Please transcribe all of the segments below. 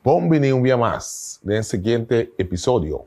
Bon bini un bia mas den siguiente episodio.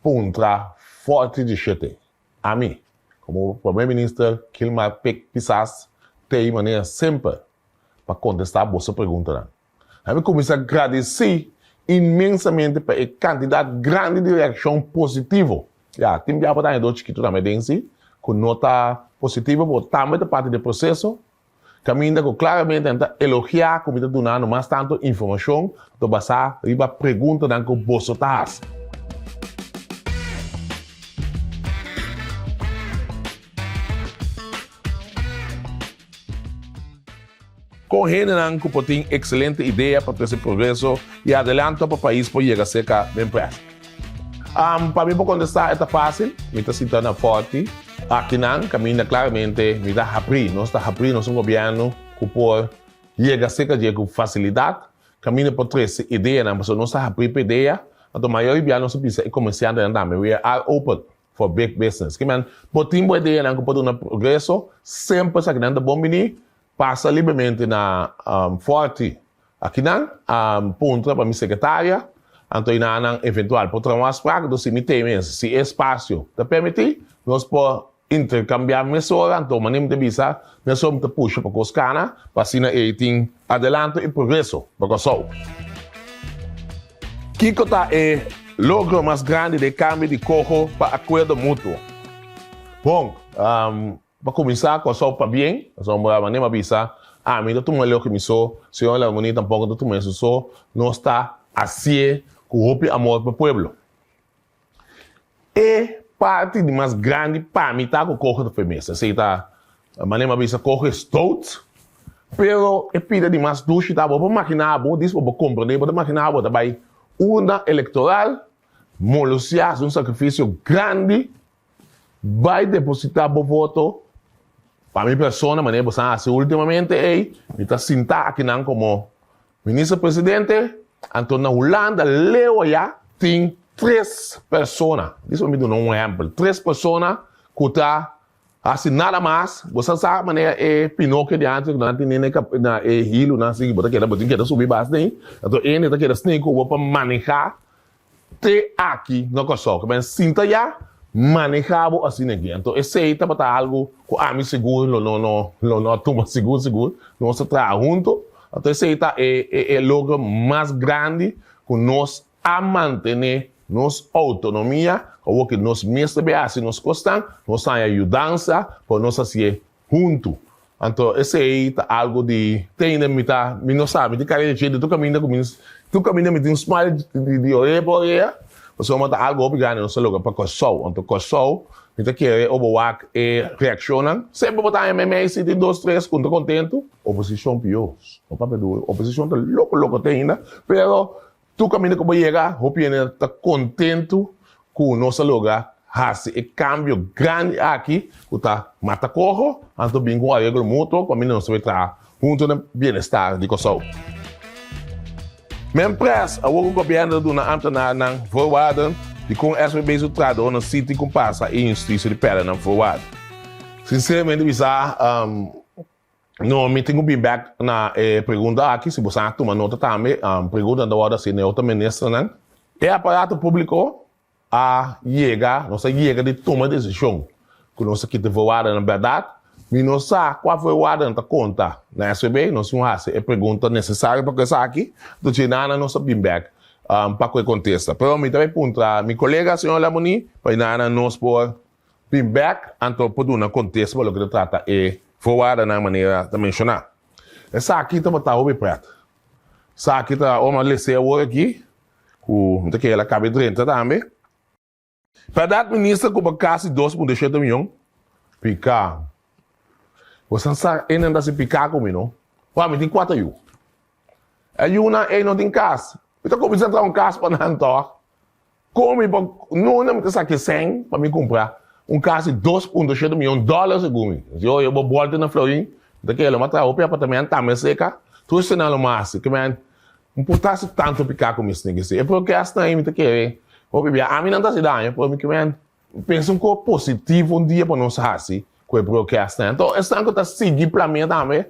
Puntra forti di shete. Ami, como Prome Minister Kilmar Pik Pisas ta ey manera semper pa contesta boso preguntanan. Ami cuminsa gradici inmensamente pa e cantidad grandi di reaccion positivo. Ya, tin biaha por ta haña dos chikito tambe den si cu no ta positivo pero tambe ta parti di e proceso. Caminda cu claramente nan ta elogia cu mi ta dunando mas tanto informacion ta basa riba preguntanan cu boso ta haci. Con hendenan cu por tin excelente idea pa trece progreso y adelanto pa pais por yega cerca den presa. Um, pa mi pa contesta e ta facil, mi ta sita na forti. Akinan caminda claramente mi ta hapri, nos ta hapri, nos un gobierno cu por yega seca dje cu facilidad, caminda por trece ideanan, pasobra nos ta hapri pa idea, anto mayor biaha nos ta bisa e comerciantenan tambe, we are open for big business. Kiman bo tin bo ideanan cu por duna progreso, semper sa kinan ta bon bini, pasa libremente na um, forti. Aki nan a puntra pa mi sekretaria, anto i na nan eventual por traha un afsprak do si mi te mes, si e spasio ta permití, nos por interkambiá mesora, anto mane mi ta bisa, mi aso mi ta pusha pa kos kana, pa asina ei tin adelanto i progreso pa Kòrsou. Kiko ta e logro mas grandi di e kambio di koho pa akuerdo mutuo? Bon, Bo kuminsá ku asou pabien? Asou bo a anima bisa, Ami ta tuma loke mi so, Señor Lal Muní tampoko ta tuma esun so. Nos ta hasié ku hopi amor pa pueblo. E parti di mas grandi pa mi ta ku koge ta firmesa. Esei ta anima bisa, Koge stout. Pero e pida di mas dushi ta, Bo por makiná bo, dispa bo por komprondé, bo ta makiná bo ta bai urna elektoral, molosia, hasi un sakrifisio grandi Bai depositá bo voto pa mi persona manera boso a hasi últimamente ei. Mi ta sintá akinan komo Minister Presidente, anto na Hulanda, Leeuwarden, tin tres persona, disa pa mi duna un ehèmpel, tres persona ku ta hasi nada mas. Bo sa sa manera e pinokio di antes ku nan tene na e hilunan así ku bo ta keda, bo tin keda subi bas den. Anto hende ta keda sneaky ku bo pa manehá Te aki na Kòrsou ku mester sinta ya manehá bo asina aki. Anto esei tabata algu ku ami sigur lo no lo no a tuma sigur sigur. Nos a traha huntu. Anto esei ta e e logro mas grandi ku nos a mantené nos outonomia. Awor ku nos mes ta bin hasi nos kosnan, nos haña yudansa pa nos hasié huntu. Anto esei ta algo di tei na mi ta mi no sa mi tin kari leche di tur kaminda ku mi tur kaminda mi tin smile di orea pa orea pasobra mi ta algo hopi grandi nos ta loke pa Kòrsou anto Kòrsou mi ta kere oba wak e reakshonnan semper bo ta haña mei mei siti dos tres ku no ta kontentu oposishon pior no papia duru oposishon ta loko loko te hinda pero Tur kaminda ku bo yega, hopi hende na ta kontentu ku nos a logra hasi e kambio grandi aki ku ta mata koho anto bin ku un areglo mutuo pasobra nos ta bin traha huntu na bienestar di Kòrsou. Mempres, awor ku gobièrnu ta duna ámtenarenan voorwaarde di kon SBB su trahadónan sinti ku pasa e injustisia di pèrdènan voorwaarde. Sinseramente bisa, No, mi tin cu bin bek na e pregunta aki, si bosan a tuma nota tambe, um, pregunta ta wordo haci na e otro ministernan. E aparato publico a yega, nos a yega di tuma decision cu nos ta kita e voorwaardennan berdad. Mi no sa cua voorwaardennan ta conta na SVB, nos tin cu haci e pregunta necesario pa cu esaki, entonces djina nan nos a bin bek um pa cu e contesta. Pero mi ta bay puntra mi colega, señor Lamoni, pa djina nan nos por Tin bek, anto por duna kontes pa loke ta trata e voorwaardennan manera ta menshoná. Esaki tabata hopi prèt. Esaki ta awor mas lese awor aki, ku mi ta kere la kabe drenta tambe. Pèrdad Minister kuba kasi dos punto e shete mion? Piká. Bosan sa einan ta hasi piká ku mi, no? Wak, mi tin kuater yu. E yunan ei no tin kas. Mi ta kuminsá traha un kas pa nan tòg. Kon mi por nuna mi ta sa ki sèn pa mi kumpra un kas di dos punto shete miyon dòler segun mi? Si oi e bo bòlta na Florin mi ta kere lo matra hopi apartament tambe a seka tur sena lo masi ke men mporta si tantu pika ku mi snegesé e por ke asta ahí mi ta kere hopi bia ami nan ta hasi daño pero mi ke men Pensa un cosa positivo un dia pa nos haci cu e broadcast nan. Enton esnan cu ta sigui plan mia tambe,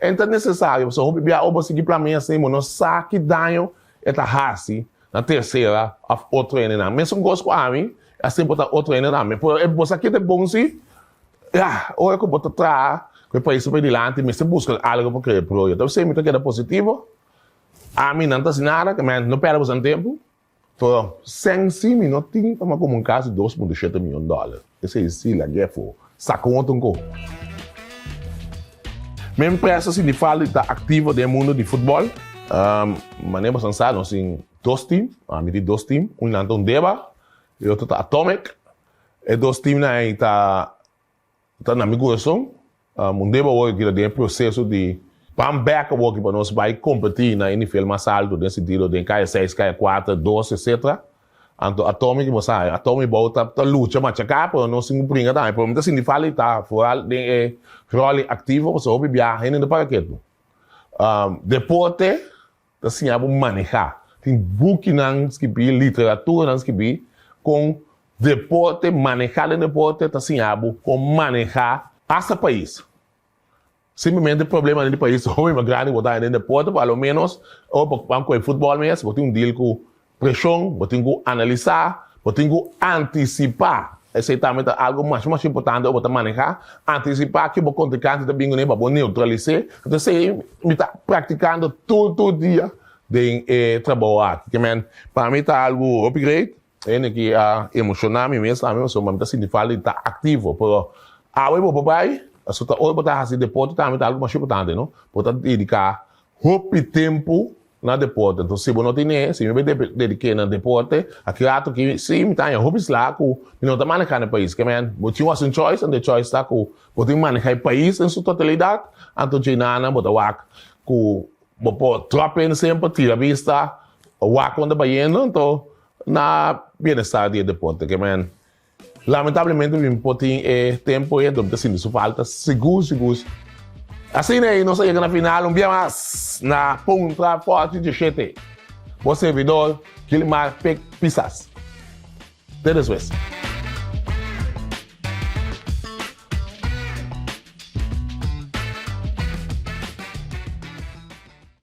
e ta necesario pasobra hopi bia oba sigui plan mia asina no sa ki daño e ta haci na tercera of otro hende nan. Mesun cosa cu ami, asina por ta otro hende tambe. Pero e bosa aki ta bon si, ya, ora cu bo ta traha cu e pais pa e dilanti mester busca algo pa crea broadcast. Dor sey mi ta keda positivo, ami nan ta haci nada, no perde boso nan tempo. To sèn si mi no tin pa ma komo un kas di dos punto shete mion dòler. Esei si la Geffo sa kon otro nko. Mi empresa Sinifaldi ta aktivo den mundo di futbòl. Manera boso sa nos tin dos tim, mi tin dos tim. Unnan ta Undeba i otro ta Atomic. E dos timnan ei ta. Ta na mi corazon. Un deba awor keda den e proceso di pan bek awor ki pa nos bay competi na e nivel mas alto den sentido den kaya seis, kaya cuater, dos, etc. Anto a Tommy ki bo sa a Tommy y Bou ta lucha machaka pero no sin pringa tambe pero mi ta sinti falta y ta foral den e rol activo pasobra hopi biaha hende no para ketu. Deporte. Ta siña bo manehá. Tin bukinan skibí, literaturanan skibí kon deporte, manehá den deporte ta siña bo kon manehá asta pais. Simplemente problemanan di pais hopi mas grandi ku bo ta haña den deporte, p'aloménos ora bo ban kual futbòl mes, bo tin un deal ku Presion, bo tin ku analisá, bo tin ku antisipá, esei tambe ta algu mas mas importante ora bo ta manehá, antisipá ke bo kontrinkantenan ta bin kuné pa bo neutralis'é, enta esei mi ta praktikando tur tur dia den e trabou aki, ke men pa mi ta algu hopi great, hende ke a emoshoná mi mes tambe pasobra mi ta sinti falta di ta aktivo, pero awe bo por bai, pasobra ta ora bo ta hasi deporte tambe ta algu mas importante, no? Bo ta dediká Hopi tempu na deporte. Enton si bo no tin e, si mi bai dediké na deporte, a ki ratu ki si mi ta haña hopi slaha ku mi no ta manehá na e pais. Kemen, bo tin wòs un choice, anto e choice ta ku bo tin manehá e pais den su totalidat, anto dje nana bo ta wak ku bo por tròp hende semper tira bista, wak unda bayendo, anto na bienestar di e deporte. Kemen, Lamentablemente mi por tin e tempo e dor ta sinti su falta segur segur. Asina ei nos a yega na final un bia mas na Puntra Forte de Shete. Bo servidor Gilmar Pik Pisas. Te despues.